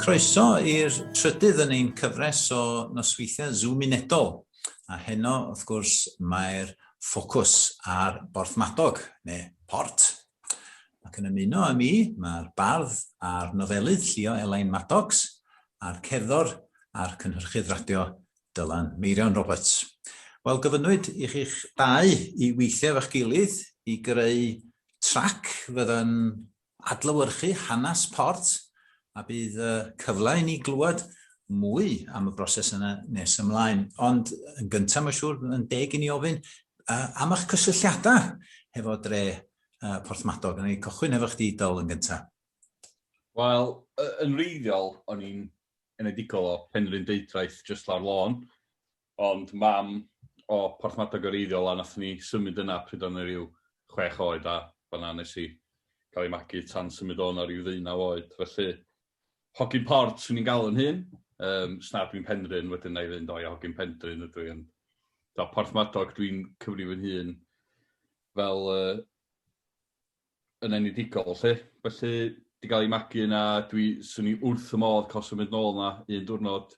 Croeso i'r trydydd yn ein cyfres o nosweithiau Zoom unedol. A heno, wrth gwrs, mae'r ffocws ar Borthmadog, neu Port, Ac yn ymuno â mi, mae'r bardd a'r nofelydd llio Elain Maddox a'r cerddor a'r cynhyrchydd radio Dylan Meirion Roberts. Wel, gofynnwyd i chi'ch dau i weithio efo'ch gilydd i greu trac fydda'n adlewyrchu hanes Port A bydd y cyfle i ni glywed mwy am y broses yna nes ymlaen. Ond yn gyntaf, mae'n siŵr, yn deg i ni ofyn uh, am eich cysylltiadau hefo dre uh, Porthmadog. Yn ei cychwyn hefo chdi, Dyl, yn gyntaf. Wel, yn wreiddiol, o'n i'n enedigol o Penrhyn Deudraeth, just lawr lôn. Ond mam o Porthmadog yr Eiddiol a nathon ni symud yna pryd o'n i ryw chwech oed a fan'na nes i ga'l i magu tan symud o 'na ryw ddeunaw oed felly hogyn port swn i'n galw yn hun yym os na dwi'n Penrhyn wedyn 'na i fynd o ia hogyn Pendryn ydw i ond t'o' Porthmadog dwi'n cyfri fy nhun fel yy yn enedigol 'lly. Felly, 'di ga'l 'i magu yna, dwi... 'swn i wrth fy modd ca'l symud nôl 'na un diwrnod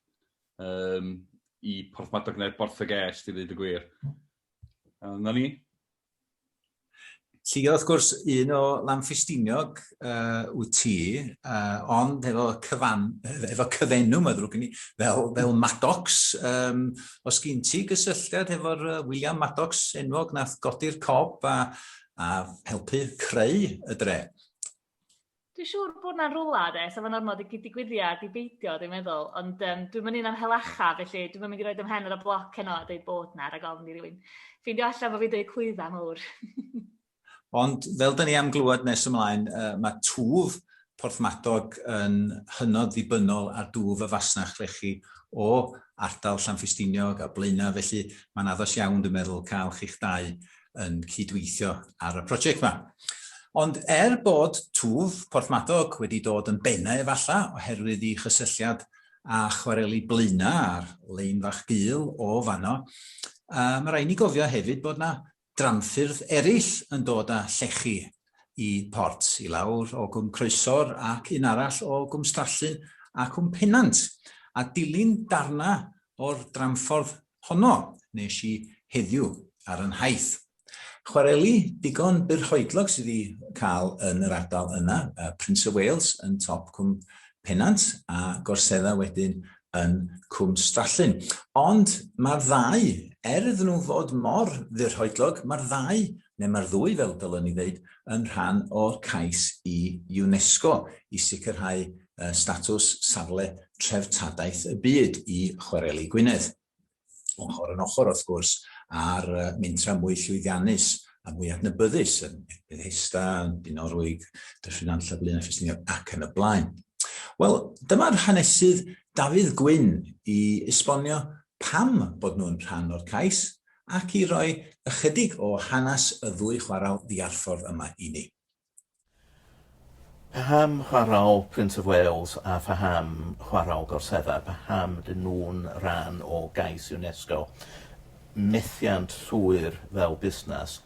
yym i Porthmadog ne' Borthygêst i ddeud y gwir. A 'na ni. Lly wrth gwrs un o Lanffestiniog uh, wyt ti, uh, ond efo, cyfan, efo cyfenw, mae ddrwg gen i, fel, fel Maddox. Um, os gyn ti gysylltiad efo'r uh, William Maddox enwog nath godi'r cob a, a helpu creu y dre. Dwi'n siŵr bod na'n rwla de, sef yn ormod i digwyddiad i beidio, dwi'n meddwl, ond um, dwi'n mynd i'n am helacha, felly dwi'n mynd i roed ymhen ar y bloc heno a dweud bod na, rhaid ofn i rywun. Ffeindio allan bod fi'n dweud clwydda mawr. Ond fel da ni am glywed nes ymlaen, uh, mae twf porthmadog yn hynod ddibynnol ar dwf y fasnach llechi o ardal Llanffestiniog a Blaenau, felly mae'n addas iawn, dwi'n meddwl, cael chi'ch dau yn cydweithio ar y prosiect yma. Ond er bod twf Porthmadog wedi dod yn bennau efalla oherwydd ei chysylltiad â chwareli Blaena a'r lein fach gul o fanno, uh, mae rhaid ni gofio hefyd bod yna dramffyrdd eraill yn dod â llechi i port, i lawr o gwm Croesor ac un arall o gwm Strallyn ac wm Pennant, a dilyn darna o'r dramffordd honno nes i heddiw ar y nhaith. Chwareli digon byrhoedlog sydd i cael yn yr ardal yna, Prince of Wales yn top Cwm Pennant a Gorsedda wedyn yn Cwm Strallyn. Ond mae'r ddau, er iddyn nhw fod mor fyrhoedlog, mae'r ddau neu mae'r ddwy fel dylwn i ddeud, yn rhan o'r cais i UNESCO i sicrhau statws safle treftadaeth y byd i Chwareli Gwynedd. Ochr yn ochr, wrth gwrs, a'r mentra mwy llwyddiannus a mwy adnabyddus yn Bethesda, Dinorwig, Dyffryn Nant Llablin a Ffestiniog ac yn y blaen. Wel, dyma'r hanesydd Dafydd Gwyn i esbonio pam bod nhw'n rhan o'r cais ac i roi ychydig o hanes y ddwy chwarel ddiarffordd yma i ni. Paham chwarel Prince of Wales a phaham chwarel Gorsedda? Paham ydyn nhw'n rhan o gais UNESCO? Methiant llwyr fel busnes?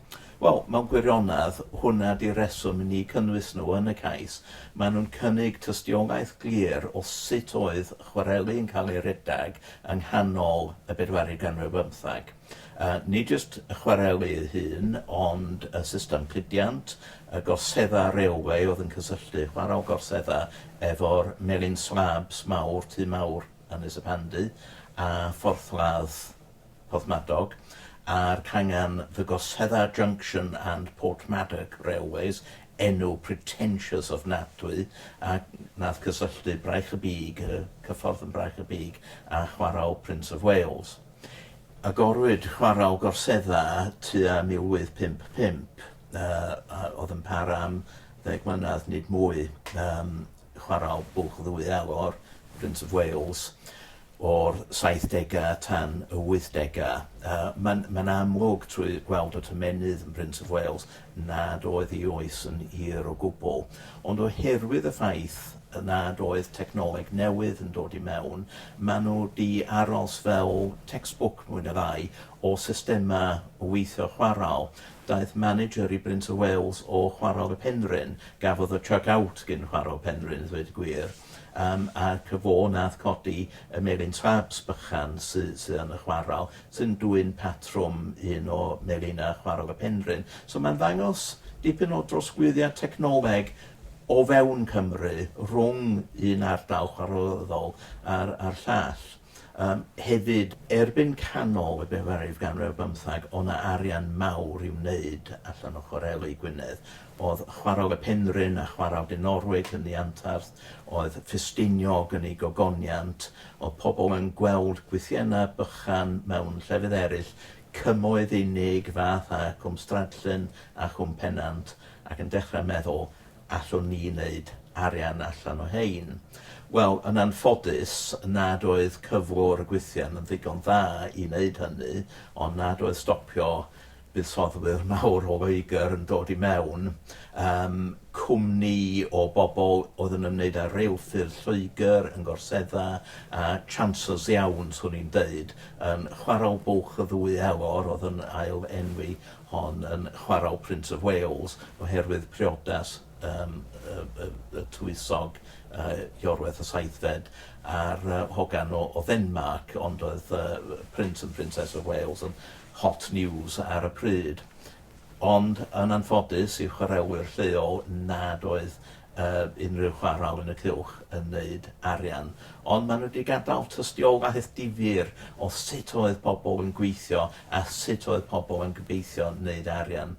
Wel, mewn gwirionedd, hwnna 'di'r rheswm i ni cynnwys nhw yn y cais. Maen nhw'n cynnig tystiolaeth glir o sut oedd chwareli yn cael ei redeg yng nghanol y bedwaredd ganrif ar bymtheg. Yy, nid jyst y chwareli ei hun, ond y system cludiant, y gorseddau railwê oedd yn cysylltu chwarel Gorsedd-A efo'r melin slabs mawr, tŷ mawr Ynys y Pandy, a phorthladd Porthmadog, a'r cangen The Gosedda Junction and Portmadog Railways, enw pretentious ofnadwy, a wnaeth cysylltu Braich y Bug, y cyffordd yn Braich y Bug, â chwarel Prince of Wales. Agorwyd chwarel Gorsedda tua 1855, a oedd yn para am ddeg mlynedd, nid mwy. chwaraeodd bwlch ddwy elor, Prince of Wales, o'r saithdegau tan y wythdegau. Uh, Mae'n ma amlwg trwy gweld y tymenydd yn Prince of Wales nad oedd ei oes yn hir o gwbl. Ond oherwydd y ffaith nad oedd technoleg newydd yn dod i mewn, maen nhw di aros fel textbook mwy na ddau o systemau o weithio chwarael Daeth manager i Brint of Wales o Chwarel y Penrhyn. Gafodd y chuck out gin Chwarel Penrhyn, i ddweud y gwir, yym, ac y fo nath codi y melin trabs bychan sy sy yn y chwarel, sy'n dwyn patrwm un o melinau Chwarel y Penrhyn. So mae'n ddangos dipyn o drosglwyddiad technoleg o fewn Cymru rhwng un ardal chwarelyddol a'r a'r llall. Yym, hefyd, erbyn canol y bedair ganrif bymthag o' 'na arian mawr i'w wneud allan o chwareli Gwynedd. O'dd Chwarel y Penrhyn a Chwarel Dinorwig yn ddi antarth, oedd Ffestiniog yn ei gogoniant, o'dd pobl yn gweld gwythienna bychan mewn llefydd eryll, Cymoedd unig, Fath a Cwm Stradllyn a Chwm Pennant, ac yn dechra meddwl allwn ni wneud arian allan o hein? Wel, yn anffodus, nad oedd cyflwr y gwythian yn ddigon dda i wneud hynny, ond nad oedd stopio buddsoddwyr mawr o Loegr yn dod i mewn. Um, cwmni o bobl oedd yn ymwneud â reilffyrdd Lloegr yn gorsedda, a chancers iawn, swn i'n deud, yn chwarae bwlch y ddwy elor oedd yn ail enwi hon yn chwarae o Prince of Wales oherwydd priodas yym y y y tywysog yy Iorwerth y Saethfed a'r yy hogan o o Ddenmarc ond oedd yy yy Prince and Princess of Wales yn hot news ar y pryd. Ond yn anffodus i chwarelwyr lleol nad oedd unrhyw chwarel yn y cylch yn neud arian ond ma' nhw di gadal tystiolaeth difyr o sut oedd pobl yn gweithio a sut oedd pobl yn gobeithio neud arian.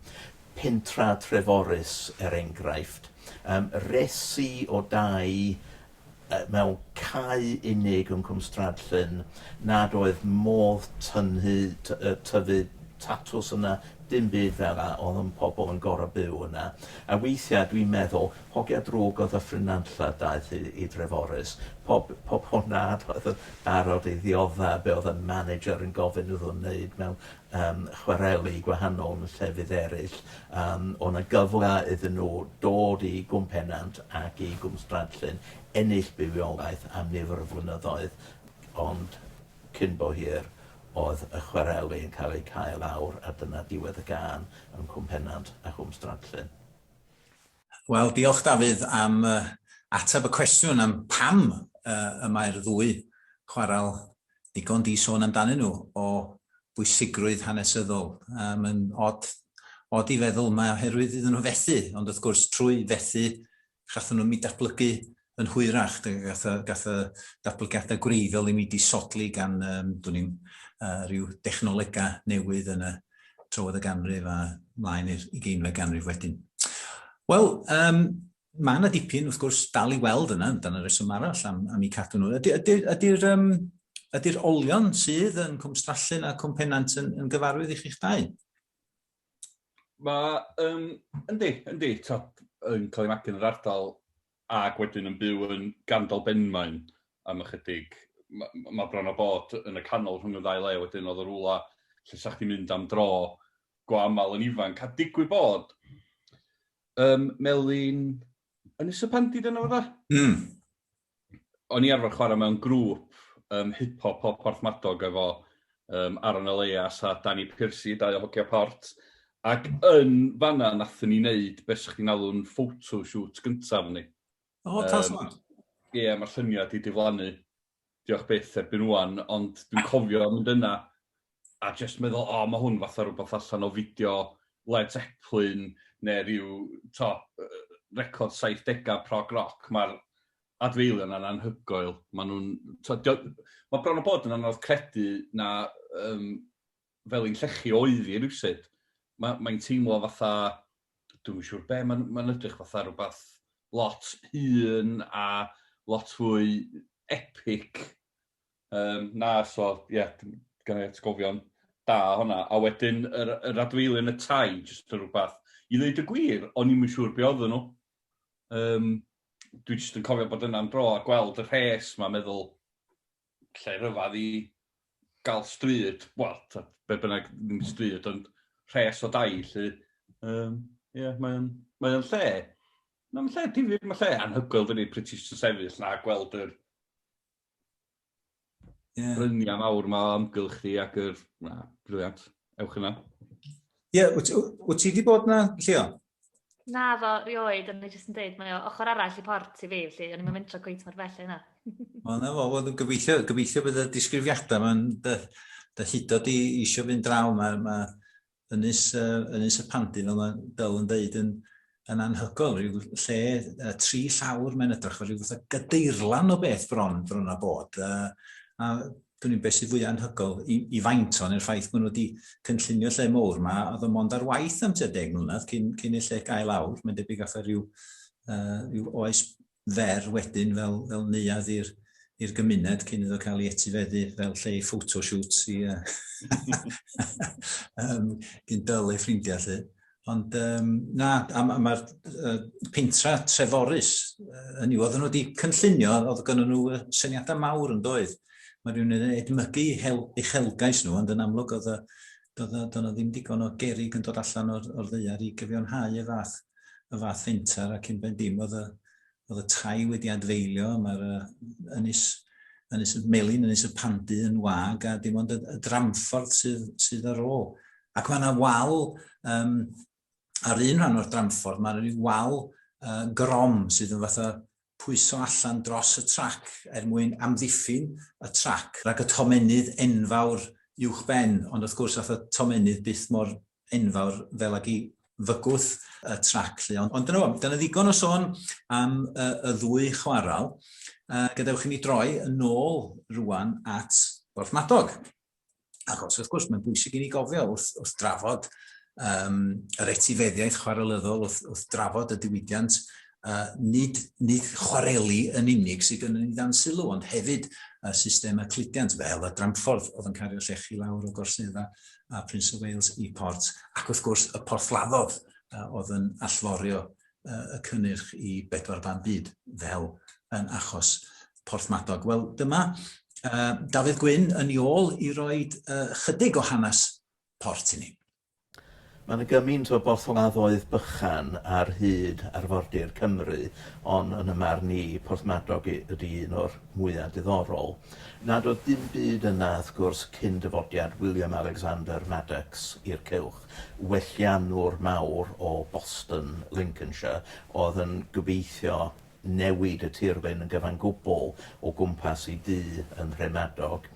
Pentra Treforys er engraifft yym resi o dau mewn cae unig yn Cwm Stradllyn nad oedd modd tynhu, tyfu tatws yna, dim byd fel 'na, oedd yn pobl yn gorfod byw yna. A weithiau dwi'n meddwl, hogia drwg oedd y ffrynanlla daeth i, i Dreforys. Pob, pob hwnna oedd yn barod i ddiodda' be oedd y manager yn gofyn iddyn nhw wneud mewn yym chwareli gwahanol yn llefydd eraill, yym o' 'na gyfle iddyn nhw dod i Gwm Pennant ac i Gwm Stradllyn, ennill bywiolaeth am nifer o flynyddoedd, ond cyn bo hir o'dd y chwareli yn cael eu cau lawr a dyna diwedd y gân yn Cwm Pennant a Chwm Stradllyn. Wel, diolch Dafydd am yy ateb y cwestiwn am pam yy y mae'r ddwy chwarel ddigon di sôn amdanyn nhw o bwysigrwydd hanesyddol. Mae Mae'n od, od i feddwl mae oherwydd iddyn nhw fethu, ond wrth gwrs trwy fethu chathon nhw mi datblygu yn hwyrach, gath y, gath y datblygiadau gwreiddiol i mi disodli gan, um, dwi'n i'n, uh, rhyw dechnolegau newydd yn y trywydd y ganrif a mlaen i'r ugeinfed ganrif wedyn. Wel, um, mae yna dipyn, wrth gwrs, dal i weld yna, dan y reswm arall am, am i cadw nhw. Ydy'r ydy, ydy, ydy um, ydy'r olion sydd yn Cwm Strallyn a Cwm Penant yn, yn gyfarwydd i chi'ch dau? Mae, um, yndi, yndi, top yn cael ei magu yn yr ardal ac wedyn yn byw yn gandol benmain am ychydig. Mae ma bron o bod yn y canol rhwng y ddau le wedyn oedd y rwla lle sa'ch ti'n mynd am dro go aml yn ifanc. A digwydd bod, um, Melin yn y Sypandi dyna fydda? Mm. O'n i arfer chwarae mewn grŵp um, hip-hop o Porthmadog efo um, Aaron Elias a Danny Piercy, dau o hogia port. Ac yn fanna nathon ni wneud beth sy'ch chi'n alw'n photoshoot gyntaf ni. O, um, tasod. Ie, yeah, mae'r syniad wedi diflannu. Diolch byth erbyn wan, ond dwi'n cofio mynd yna a jyst meddwl, o, oh, mae hwn fatha rhywbeth allan o fideo Led Zeppelin neu rhyw to, record 70au prog rock. Mae'r adfeilion yna'n anhygoel. Mae nhw'n... Mae bron o bod yn anodd credu na um, fel un llechi oedd hi rywsut. Ma- mae'n teimlo fatha, dwi'm yn siŵr be, mae'n mae'n edrych fatha rhywbeth lot hŷn a lot fwy epic yym na, so ie, dwi gynna i atgofion da o honna. A wedyn yr yr adfeilion yn y tai, jyst yn rhywbeth, i ddeud y gwir, o'n i'm yn siŵr be oedden nhw. Yym dwi jyst yn cofio bod yna am dro a gweld y rhes 'ma a meddwl, lle rhyfedd i gael stryd, wel, tibod, be bynnag, ddim stryd, ond rhes o dai, lly. Um, yeah, mae o'n mae o'n lle. Mae'n lle difyr, mae'n lle anhygoel, dydy, pryd ti'n sefyll na gweld yr yeah. bryniau mawr yma o amgylch chi ac yr... Na, briliant. Ewch yna. Ie, yeah, wyt ti wedi bod yna, Llio? Naddo, rioed, ond ni jyst yn dweud, mae o ochr arall i port i fi, felly o'n i'n mynd mentro cweith mor bell yna. Wel, na fo, wel, gobeithio, gobeithio bydd y disgrifiadau yma'n dy, dy hudo di eisiau fynd draw, mae, mae ynys, uh, ynys y pandi, fel mae Dyl yn dweud, yn, yn anhygol, rhyw lle uh, tri llawr mae'n edrych, fel rhyw fath o gadeirlan o beth bron, bron a bod. Uh, a dwi'n meddwl beth sydd fwy anhygol i, i faint o'n i'r ffaith bod nhw wedi cynllunio lle mowr yma, oedd y mond ar waith am tua deg mlynedd cyn, cyn y lle gael awr. Mae'n debyg atho rhyw, uh, rhyw oes fer wedyn fel, fel neuad i'r i'r gymuned cyn iddo cael ei etifeddu fel lle i photoshoots i uh, um, gyn dyl ei ffrindiau lle. Ond um, na, a mae'r ma, ma uh, pentra Treforus, uh, hynny, oedden nhw wedi cynllunio, oedd gen nhw uh, syniadau mawr yn doedd. Mae rhywun yn edmygu hel, eich helgais nhw, ond yn amlwg oedd doedd nhw ddim digon o gerig yn dod allan o'r, or ddeiar i gyfiawnhau y fath, y fath fenter ac yn ben dim oedd y, oedd y tai wedi adfeilio, mae'r ynys, ynys y melin, ynys y pandu yn wag, a dim ond y, y dramffordd sydd, sydd ar ôl. Ac mae yna wal, um, ar un rhan o'r dramffordd, mae yna wal uh, grom sydd yn fatha pwyso allan dros y trac er mwyn amddiffyn y trac rhag y tomenydd enfawr uwch ben, ond wrth gwrs fatha tomenydd byth mor enfawr fel ag i fygwth y trac lly. Ond, ond dyna fo, dyna ddigon o sôn am y, y ddwy chwarael. Uh, gadewch i mi droi yn ôl rwan at Borthmadog. Achos wrth gwrs mae'n bwysig i ni gofio wrth, wrth drafod um, yr etifeddiaeth chwarelyddol, wrth, wrth drafod y diwydiant, uh, nid, nid chwareli yn unig sydd yn ei dan sylw, ond hefyd y system y cludiant fel y dramffordd oedd yn cario llechi lawr o gorsedda a Prince of Wales i Port, ac wrth gwrs y porthladdodd uh, oedd yn allforio uh, y cynnyrch i bedwar ban byd, fel yn achos Porthmadog. Wel, dyma uh, Dafydd Gwyn yn ei ôl i roi uh, chydig o hanes port i ni. Mae yna gymaint o borthladdoedd bychan ar hyd arfordir Cymru, ond yn y marn i, Porthmadog ydy un o'r mwya diddorol. Nad oedd dim byd yna, wrth gwrs, cyn dyfodiad William Alexander Madox i'r cylch, welliannwr mawr o Boston, Lincolnshire, oedd yn gobeithio newid y tirlun yn gyfan gwbl o gwmpas ei dŷ yn Nhremadog.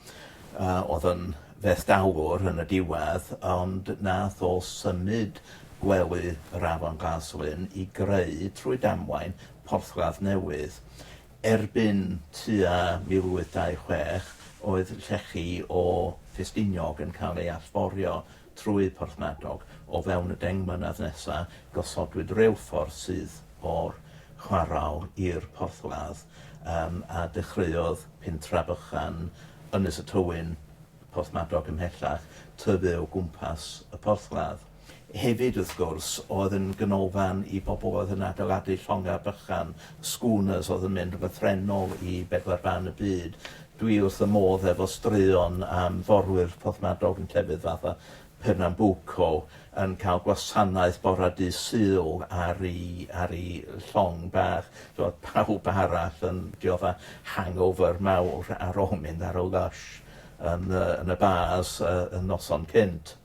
Oedd yn fethdalwr yn y diwedd, ond nath o symud gwely yr Afon Glaslyn i greu, trwy damwain, porthladd newydd. Erbyn tua 1826, oedd llechi o Ffestiniog yn cael ei allforio trwy Porthmadog. O fewn y deng mlynedd nesaf, gosodwyd reilffordd syth o'r chwarel i'r porthladd, a dechreuodd pentref bychan Ynys y Tywyn, Porthmadog ymhellach, tyfu o gwmpas y porthladd. Hefyd, wrth gwrs, oedd yn ganolfan i bobl oedd yn adeiladu llongau bychan, schooners, oedd yn mynd yn lythrennol i bedwar ban y byd. Dwi wrth fy modd efo straeon am forwyr porthmadog yn llefydd fatha Pernambuco yn cael gwasanaeth bore dydd Sul ar i ar i llong bach, t'mod, pawb arall yn dioddef hangover mawr ar ôl mynd ar y lush yn y yn y bars y y noson cynt.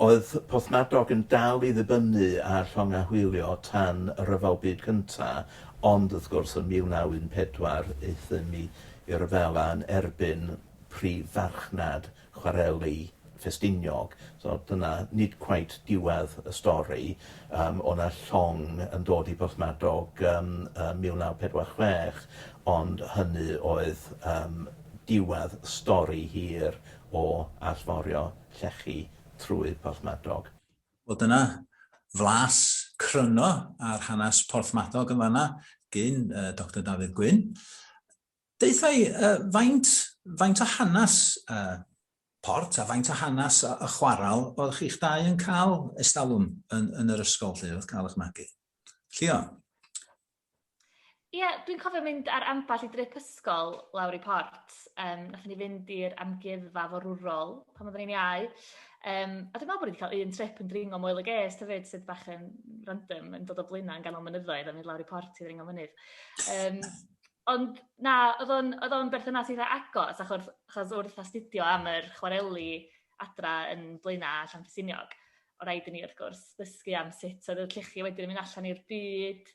Oedd Porthmadog yn dal i ddibynnu ar llongau hwylio tan y Rhyfel Byd Cyntaf, ond wrth gwrs yn 1914 euthum i i ryfel a yn erbyn prif farchnad chwareli Ffestiniog. So dyna nid cweit diwedd y stori. Yym o' 'na llong yn dod i Borthmadog yn yn 1946 ond hynny oedd yym diwedd stori hir o allforio llechi trwy Porthmadog. Wel dyna flas cryno ar hanes Porthmadog yn fan'na gin Doctor Dafydd Gwyn. Deutha i, faint, faint o hanes Port a faint o hanes y chwaral oedd chi'ch dau yn cael estalwm yn, yn yr ysgol 'lly, wrth gael eich magu? Llio? Ie, dwi'n cofio mynd ar ambell i drip ysgol lawr i Port. Um, nath ni fynd i'r amgueddfa forwrol pan oedden ni'n iau. Um, a dwi'n meddwl bod ni wedi cael un trip yn dringo moel y ges, ta fyd, sydd bach yn random, yn dod o blaenau yn ganol mynyddoedd a mynd lawr i Port i ddringo mynydd. Um, ond na, oedd o'n berthynas eitha agos, achos, achos wrth astudio am yr chwareli adra yn blaenau Llanfysiniog. o' raid i ni wrth gwrs ddysgu am sut oedd y llychio wedyn yn mynd allan i'r byd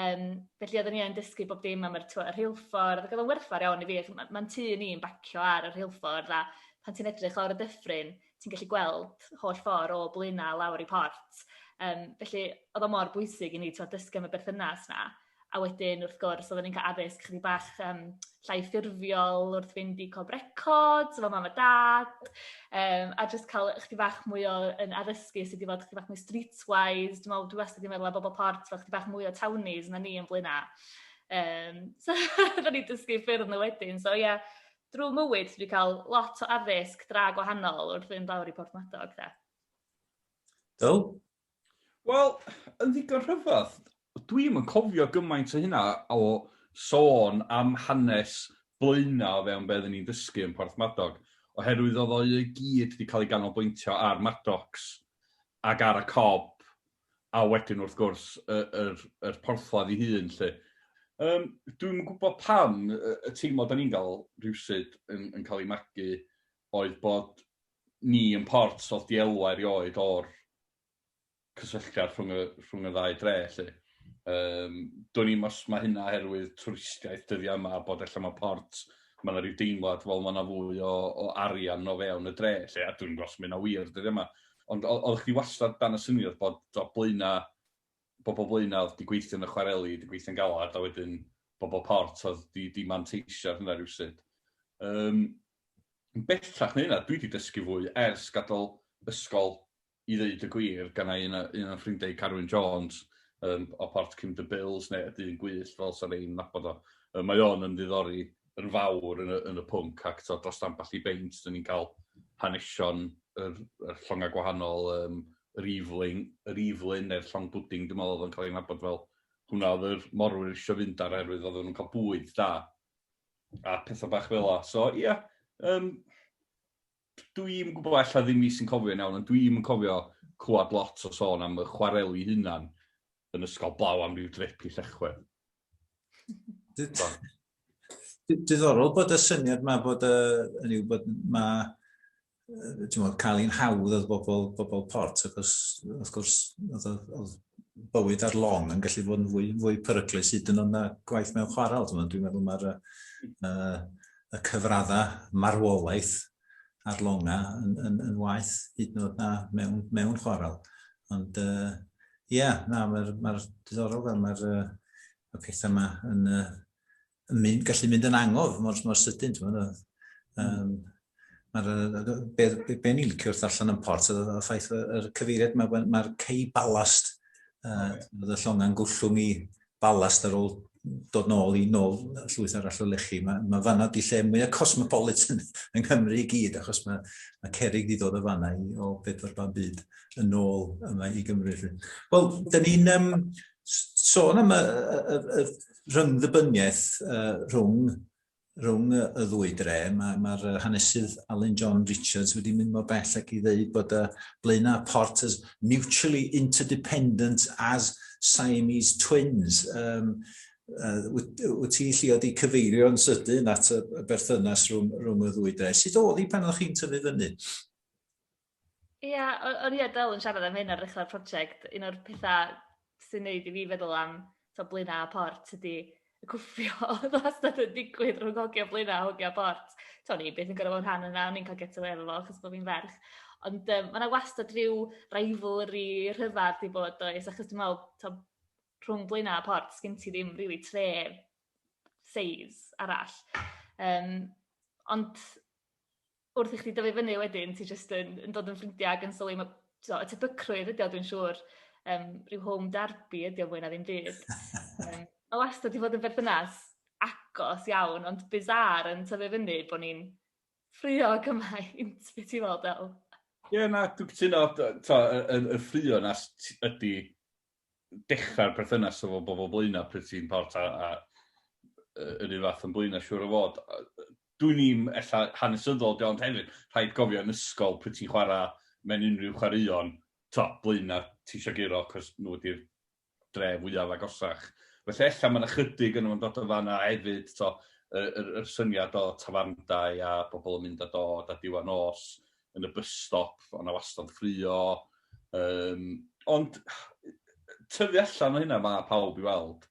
yym felly odden ni yn dysgu bob dim am yr t'wo' y rheilffordd ag odd o'n werthfawr iawn i fi ac ma' ma'n tŷ ni yn bacio ar y rheilffordd a pan ti'n edrych lawr y dyffryn ti'n gallu gweld holl ffor o Blaena' lawr i Port yym felly o'dd o mor bwysig i ni t'wo' dysgu am y berthynas 'na. A wedyn, wrth gwrs, oedden ni'n cael addysg ychydig bach yym llai ffurfiol wrth fynd i Cob Records efo mam a dad, yym, a jyst cael ychydig bach mwy o yym addysgu sut i fod ychydig bach mwy streetwise. Dwi'n meddwl, dwi wastad 'di meddwl am bobol Port fel ychydig bach mwy o townies na ni yn Blaenau. Yym, so oedden ni'n dysgu ffyrdd nhw wedyn. So ie, drwy mywyd dwi 'di cael lot o addysg dra gwahanol wrth fynd lawr i Porthmadog de. Cool. Wel, yn ddigon rhyfedd, dwi'm yn cofio gymaint o hynna o sôn am hanes Blaenau o fewn be' oedden ni'n dysgu yn Porthmadog, oherwydd oedd o i gyd 'di cael ei ganolbwyntio ar Maddox ac ar y Cob, a wedyn wrth gwrs y yr yr porthladd ei hun 'lly. Yym dwi'm yn gwybod pam y y teimlad o'n i'n gael rywsut yn yn cael ei magu oedd bod ni yn Port o'dd dielwa erioed o'r cysylltiad rhwng y rhwng y ddau dre 'lly. Yym dwn i'm os ma' hynna oherwydd twristiaeth dyddia' yma a bod ella ma' Port ma' 'na ryw deimlad wel ma' 'na fwy o o arian o fewn y dre 'lly a dwi'm yn gwbo' os ma' hynna wir dyddia' 'ma ond o- oddach chdi wastad dan y syniad bod t'o' Blaena' bobl blaenaf, di gweithio yn y chwareli, di gweithio'n galed, a wedyn bobl port oedd di, di manteisio ar hynna rhywsut. Um, bellach na hynna, dwi di dysgu fwy ers gadael ysgol i ddeud y gwir, gan ei un, un o'n ffrindiau Carwyn Jones um, o port Kim the Bills, neu y dyn gwych fel sa'n ein nabod o. Um, mae o'n yn ddiddori yn fawr yn y, yn y pwnc ac tod, dros ambell i beint dyn ni'n cael hanesion yr, yr llongau gwahanol, um, yr iflin, yr iflin neu'r llong bwding, dwi'n meddwl oedd yn cael ei nabod fel hwnna oedd yr morwyr eisiau fynd ar erwydd oedd nhw'n cael bwyd da a pethau bach fel la. So, ie, yeah, um, Dwi'm yn gwybod, ella ddim fi sy'n cofio'n iawn, ond dwi'm yn cofio clywed lot o sôn am y chwareli hunan yn ysgol blaw am ryw drip i Llechwedd. Diddorol bod y syniad yma bod y, yn yw bod ma, ti'n modd, cael ein hawdd oedd bobl, bobl port, achos, wrth gwrs, oedd bywyd ar long yn gallu bod yn fwy, fwy peryglus hyd yn ond na gwaith mewn chwarel. Dwi'n meddwl mae'r uh, y cyfraddau marwolaeth ar longa yn, yn, yn waith hyd yn oed na mewn, mewn chwarel. Ond ie, uh, yeah, na, mae'r ma diddorol fel mae'r uh, y pethau yma yn, uh, yn mynd, gallu mynd yn angof mor, mor sydyn. Um, Mae'r be, be, be ni'n licio wrth allan yn port, y ffaith y cyfeiriad, mae'r mae cei balast, uh, y llonga'n gwllwng i balast ar ôl dod nôl i nôl llwyth arall o lechi. Mae, mae fanna di lle mwyaf cosmopolitan yng Nghymru i gyd, achos mae, mae cerig di dod o fanna i, o bedwar ban byd yn ôl yma i Gymru. Wel, da ni'n um, sôn am y, y, y, y rhyngddybyniaeth uh, rhwng rhwng y ddwy dre. Mae'r ma, ma hanesydd Alun John Richards wedi mynd mor bell ac i ddeud bod y blaenau a port as mutually interdependent as Siamese twins. Um, uh, wyt ti'n llio di cyfeirio yn sydyn at y berthynas rhwng, rhwng y ddwy dre. Sut oedd hi pan oedd chi'n tyfu fyny? Ia o- o'n i a Del yn siarad am hyn ar ddechra'r project un o'r petha sy'n neud i fi feddwl am t'o' Blaena' a Ports ydi y cwffio o'dd wastad yn digwydd rhwng hogia Blaena' a hogia Ports t'o' o'n i byth yn gor'o' fo' yn rhan yna o'n i'n ca'l get awê efo fo achos bo' fi'n ferch ond yym ma' 'na wastad ryw rivalry rhyfadd 'di bod does achos dwi me'wl t'o' rhwng Blaena' a Ports sgin ti ddim rili tref seis arall yym ond wrth i chdi dyfu fyny wedyn ti jyst yn yn dod yn ffrindia ag yn sylwi ma' t'o' y tebygrwydd ydi o dwi'n siŵr yym rhyw home derby ydi o fwy na ddim byd. Yym ma' wastad 'di fod yn berthynas agos iawn ond bizarre yn tyfu fyny bo' ni'n ffraeo cymaint be' ti'n me'wl Del? Ie na dwi cytuno dy- t'o' y y y ffraeo 'na s- t- ydi dechrau'r perthynas efo bobl Blaenau pryd ti'n part a a yy yr un fath yn Blaenau siŵr o fod. Dwi'n i'm ella hanesyddol ydi o ond hefyd rhaid cofio yn ysgol pryd ti'n chwarae mewn unrhyw chwaraeon t'o' Blaenau ti isio guro cos nhw ydi'r dre fwyaf agosach. Felly ella ma' 'na chydig yno fo'n dod o fan'na hefyd t'o' yy yr yr syniad o tafarndai a pobl yn mynd a dod a diwa nos yn y bus stop, ond na wastad ffrio. Um, ond tyfu allan o hynna mae pawb i weld.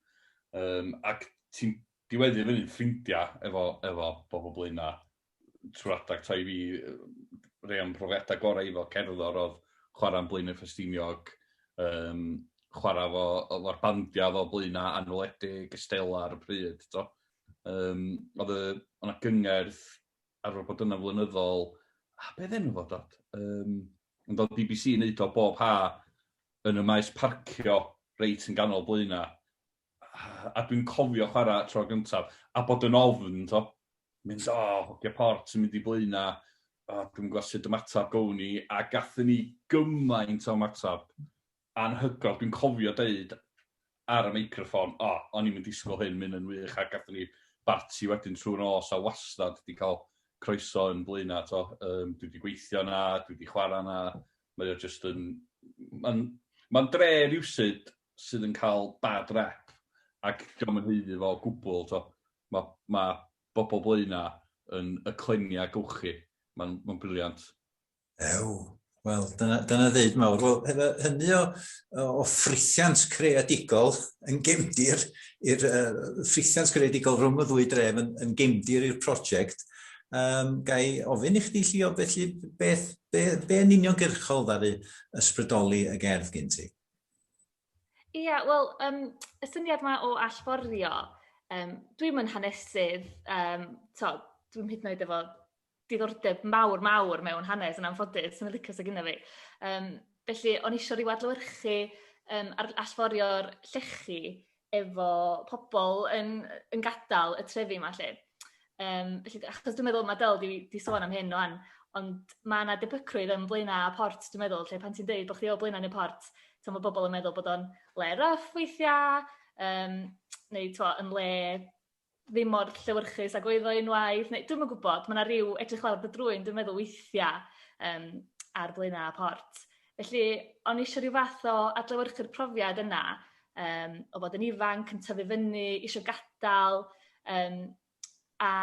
Um, ac ti'n diweddu fyny'n ffrindiau efo, efo bobl blaen na trwy adag ta i fi rei am profiadau gorau efo cerddor oedd chwarae'n blaen y ffestiniog, um, chwarae fo, o'r bandiau fo blaen na anweledig, ystela ar y pryd. To. Um, oedd yna gyngerdd arfer bod yna'n flynyddol, a be oedd enw fo Dod? Yym ond oedd bbc yn neud o bob ha' yn y maes parcio reit yn ganol Blaena', a dwi'n cofio chwara' y tro gyntaf a bod yn ofn t'o', mynd o hogia port sy'n mynd i Blaena', o dwi'm yn gwbod sud ymateb gown i, a gathon ni gymaint o ymateb anhygoel, dwi'n cofio deud ar y meicroffon, o, o'n i'm yn disgwyl hyn, mae hyn yn wych, a gathon ni barti wedyn trwy'r nos, a wastad wedi cael croeso yn Blaenau, t'o', yym, dwi wedi gweithio yna, dwi wedi chwarae yna, mae o jyst yn... Mae'n mae'n dre rywsut sydd yn cael bad rep, ac dio'm yn haeddu fo o gwbl, t'o'. Ma' ma' bobl Blaenau yn y cleniau gewch chi, mae'n mae'n briliant. Ew, wel, dyna, dyna ddeud mawr. Wel, efo hynny o, o ffrithiant creadigol yn gemdir, i'r uh, ffrithiant creadigol rhwng y ddwy dref yn, yn gemdir i'r prosiect, um, gai ofyn i chdi llio, felly beth, be, be yn uniongyrchol ddaru ysbrydoli y gerdd gen ti? Ie, yeah, wel, um, y syniad yma o allforio, um, dwi'n mynd hanesydd, um, to, dwi'n hyd yn oed efo diddordeb mawr mawr mewn hanes yn anffodus, yn y licos ag yna fi. Um, felly, o'n eisiau rhyw adlywyrchu um, ar allforio'r llechi efo pobl yn, yn gadael y trefi yma lle. Um, felly, achos dwi'n meddwl, mae Del di, di sôn am hyn o'n, ond mae yna debygrwydd yn blaenau a port, dwi'n meddwl, lle pan ti'n dweud bod chdi o blaenau neu port, ti'n mae bobl yn meddwl bod o'n le rough weithiau, um, neu twa, yn le ddim mor llewyrchus ag oedd o unwaith, neu dwi'm yn gwybod, mae 'na ryw edrych lawr dy drwyn dwi'n meddwl weithia' yym ar flaenau y port. Felly, o'n i isio ryw fath o adlewyrchu'r profiad yna yym o fod yn ifanc, yn tyfu fyny, isio gadael yym a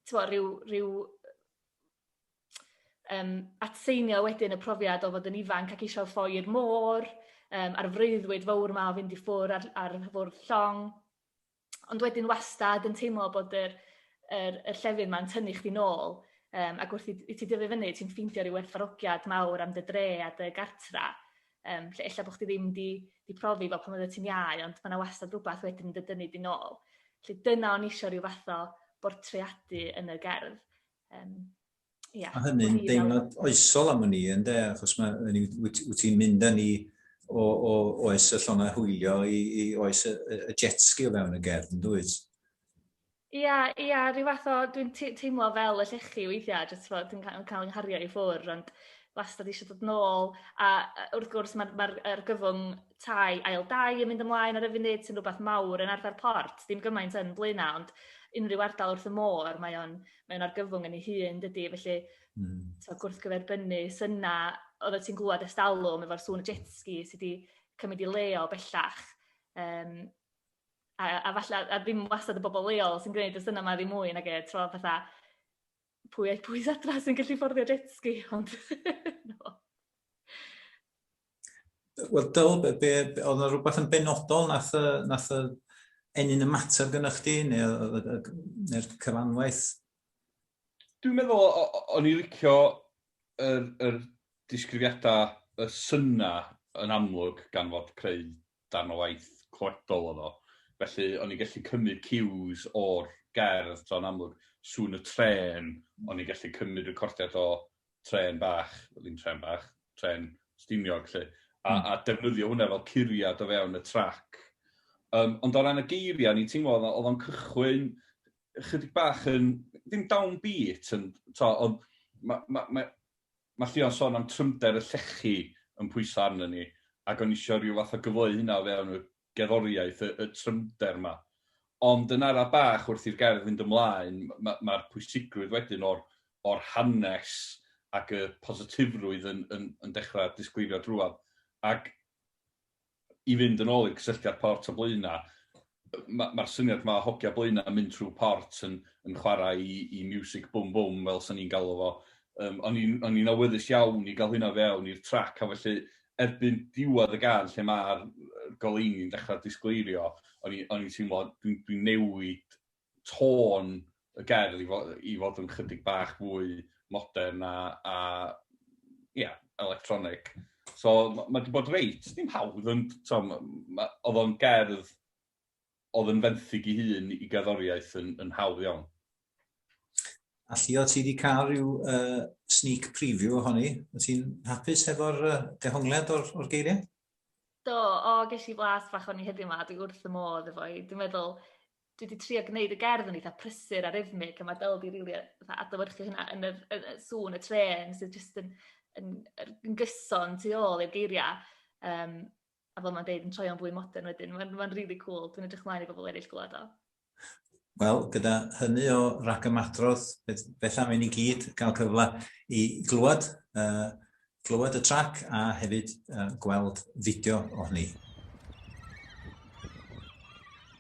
t'mo' ryw ryw yym atseinio wedyn y profiad o fod yn ifanc ac isio ffoi i'r môr yym a'r freuddwyd fowr 'ma o fynd i ffwr' ar ar fwrdd llong. ond wedyn wastad yn teimlo bod yr yr y llefydd 'ma'n tynnu chdi nôl yym ac wrth i i ti dyfu fyny ti'n ffeindio ryw werthfawrogiad mawr am dy dre a dy gartra yym lle ella bo' chdi ddim 'di 'di profi fel pan oeddet ti'n iau ond ma' 'na wastad rwbath wedyn yn dy dynnu di nôl. Felly dyna o'n i isio ryw fath o bortreadu yn y gerdd yym. Yeah. A hynny'n deimlad oesol am hynny, yn de, achos mae, wyt, wyt ti'n mynd â ni o, o oes y llonau hwylio i, i oes y, y jet ski o fewn y gerdd, yn dwyt? Ia, ia, rhyw fath o, dwi'n teimlo fel y llechi weithiau, jyst fod dwi'n cael yng nghario i ffwr, ond wastad eisiau dod nôl, a wrth gwrs mae'r ma, ma argyfwng tai ail dai yn mynd ymlaen ar y funud sy'n rhywbeth mawr yn arfer port, dim gymaint yn blaenau, ond unrhyw ardal wrth y môr, mae o'n mae'n argyfwng yn ei hun, dydy, felly mm. so, gwrthgyferbynnu syna, oedd ti'n glwad estalwm efo'r sŵn y jetski sydd wedi cymryd i leo bellach. Um, a, a, falle, a ddim wastad y bobl leol sy'n gwneud y syna yma ddim mwy nag e, tro fatha pwy a'i pwy adra sy'n gallu fforddio jetski, ond no. Wel, Dyl, be, be, oedd yna rhywbeth yn benodol nath, nath y ennyn y mater gynnwch chdi, neu'r neu cyfanwaith? Dwi'n meddwl, o'n i licio yr, yr disgrifiadau y syna yn amlwg gan fod creu darn o waith clywedol oedd o. Felly, o'n i'n gallu cymryd cues o'r gerdd, so yn amlwg, sŵn y tren, o'n i'n gallu cymryd recordiad o trên bach, ddim trên bach, trên Stiniog 'lly, a a defnyddio hwnna fel curiad o fewn y trac. Yym ond o ran y geiria' o'n i'n teimlo o'dd o o'dd o'n cychwyn chydig bach yn, ddim down beat ond t'o' o'dd ma' ma' ma' ma' Llio'n sôn am trymder y llechi yn pwyso arnon ni ac o'n i isio ryw fath o gyfleu hynna o fewn y gerddoriaeth, y y trymder 'ma. Ond yn ara' bach wrth i'r gerdd fynd ymlaen m- ma' ma'r pwysigrwydd wedyn o'r o'r hanes ac y positifrwydd yn yn yn dechra' disgleirio drwadd. Ac i fynd yn ôl i'r cysylltiad port a Blaenau, ma' ma'r syniad 'ma o hogia Blaenau yn mynd trwy port yn yn chwarae 'i 'i miwsig bwm bwm fel 'san ni'n galw fo, yym o'n i'n o'n i'n awyddus iawn i ga'l hynna fewn i'r trac a felly erbyn diwedd y gân lle ma'r goleuni'n dechra disgleirio o'n i o'n i'n teimlo dwi'n dwi'n newid tôn y gerdd i fo- i fod yn chydig bach fwy modern a a ia electronic so ma' ma' 'di bod reit dim hawdd ond t'mo' ma' ma' o'dd o'n gerdd oedd yn fenthyg i hun i gerddoriaeth yn, yn hawdd iawn. A lli o ti di cael rhyw uh, sneak preview ohoni? O ti'n hapus hefo'r uh, dehongliad o'r, or geiriau? Do, o, ges i blas fach o'n i heddiw yma, dwi wrth y modd efo i. Dwi'n meddwl, dwi wedi trio gwneud y gerdd yn eitha prysur a rhythmig, a mae Del wedi rili really adlywyrchu hynna yn y, y, y sŵn y tren sydd jyst yn, yn, yn, yn gyson tu ôl i'r geiriau. Um, a fel mae'n deud, yn troi'n fwy modern wedyn. Mae'n ma really cool, dwi'n edrych mlaen i bobl eraill glywed o. Wel, gyda hynny o ragymadrodd, beth am i ni gyd gael cyfle i glywed, uh, glywed y trac a hefyd uh, gweld fideo o hynny.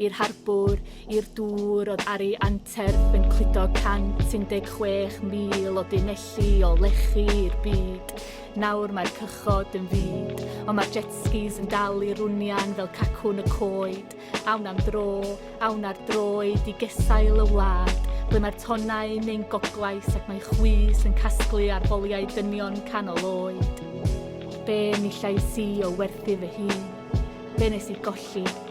i'r harbwr, i'r dŵr oedd ar ei anterth yn cludo 116,000 o dunelli o lechi i'r byd. Nawr mae'r cychod yn fyd, ond mae'r jetskis yn dal i rwnian fel cacwn y coed. Awn am dro, awn ar droed i gesail y wlad, ble mae'r tonnau yn ein goglais ac mae chwys yn casglu ar boliau dynion canol oed. Be ni llais i o werthu fy hun? Be nes i golli?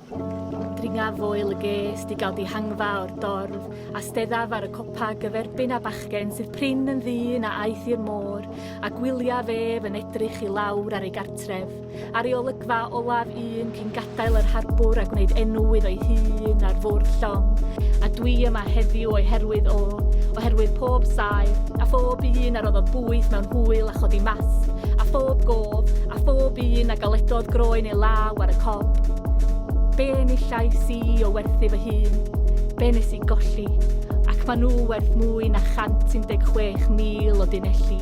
Dringa foel y gest i gael dihangfa o'r dorf, a steddaf ar y copa gyferbyn â bachgen sydd prin yn ddyn a aeth i'r môr, a gwyliaf ef yn edrych i lawr ar ei gartref, ar ei olygfa olaf un cyn gadael yr harbwr a gwneud enw iddo'i hun ar fwrdd llong, a dwi yma heddiw o'i herwydd o, oherwydd pob saer, a phob un a roddodd bwyth mewn hwyl a chodi masg, a phob gof, a phob un a galedodd groen ei law ar y corn. Be enillais i o werthu fy hun? Be nes i golli? Ac maen nhw werth mwy na 116,000 o dunelli.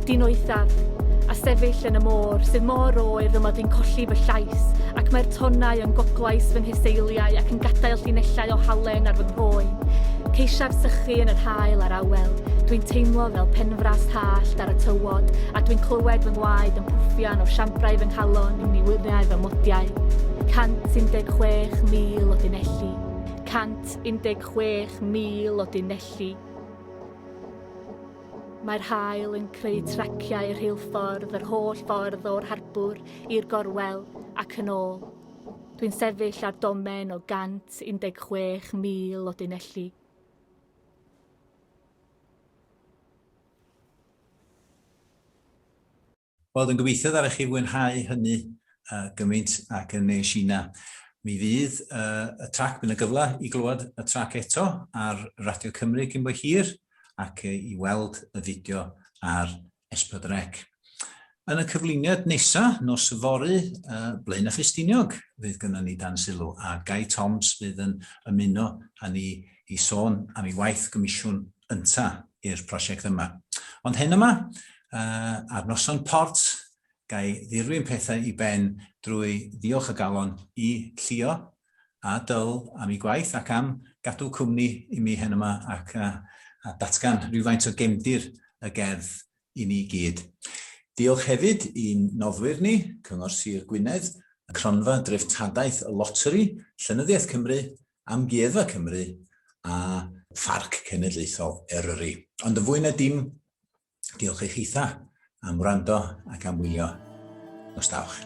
Dyn oethaf, a sefyll yn y môr, sydd mor oer fy mod i'n colli fy llais, ac mae'r tonnau yn goglais fy nheseiliau ac yn gadael llinellau o halen ar fy nghroen. Ceisiaf sychu yn yr hael a'r awel, dwi'n teimlo fel penfras hallt ar y tywod, A dwi'n clywed fy ngwaed yn pwffian o siambrau fy nghalon i wyriau fy modiau. 116,000 o dunelli. 116,000 o dunelli. Mae'r haul yn creu traciau rheilffordd yr holl ffordd o'r harbwr i'r gorwel ac yn ôl. Dwi'n sefyll ar domen o 116,000 o dunelli. Wel, dwi'n gobeithio ddare chi fwynhau hynny gymaint ac yn nes ina. Mi fydd y trac, bydd yna gyfle i glywed y trac eto ar Radio Cymru cyn bo hir ac i weld y fideo ar S4C. Yn y cyflwyniad nesa, nos yfory, Blaenau Ffestiniog, fydd gynnon ni Dan Sylw a Gai Toms fydd yn ymuno â ni i sôn am ei waith gomisiwn ynta i'r prosiect yma. Ond heno 'ma, ar Noson Port, gai ddirwyn pethau i ben drwy ddiolch o galon i Llio a Dyl am eu gwaith ac am gadw cwmni i mi heno 'ma ac a datgan rhywfaint o gefndir y gerdd i ni gyd. Diolch hefyd i'n noddwyr ni, Cyngor Sir Gwynedd, Cronfa Dreftadaeth y Loteri, Llenyddiaeth Cymru, Amgueddfa Cymru a Pharc Cenedlaethol Eryri. Ond yn fwy na dim, diolch i chitha am wrando ac am wylio. Nos da, wch.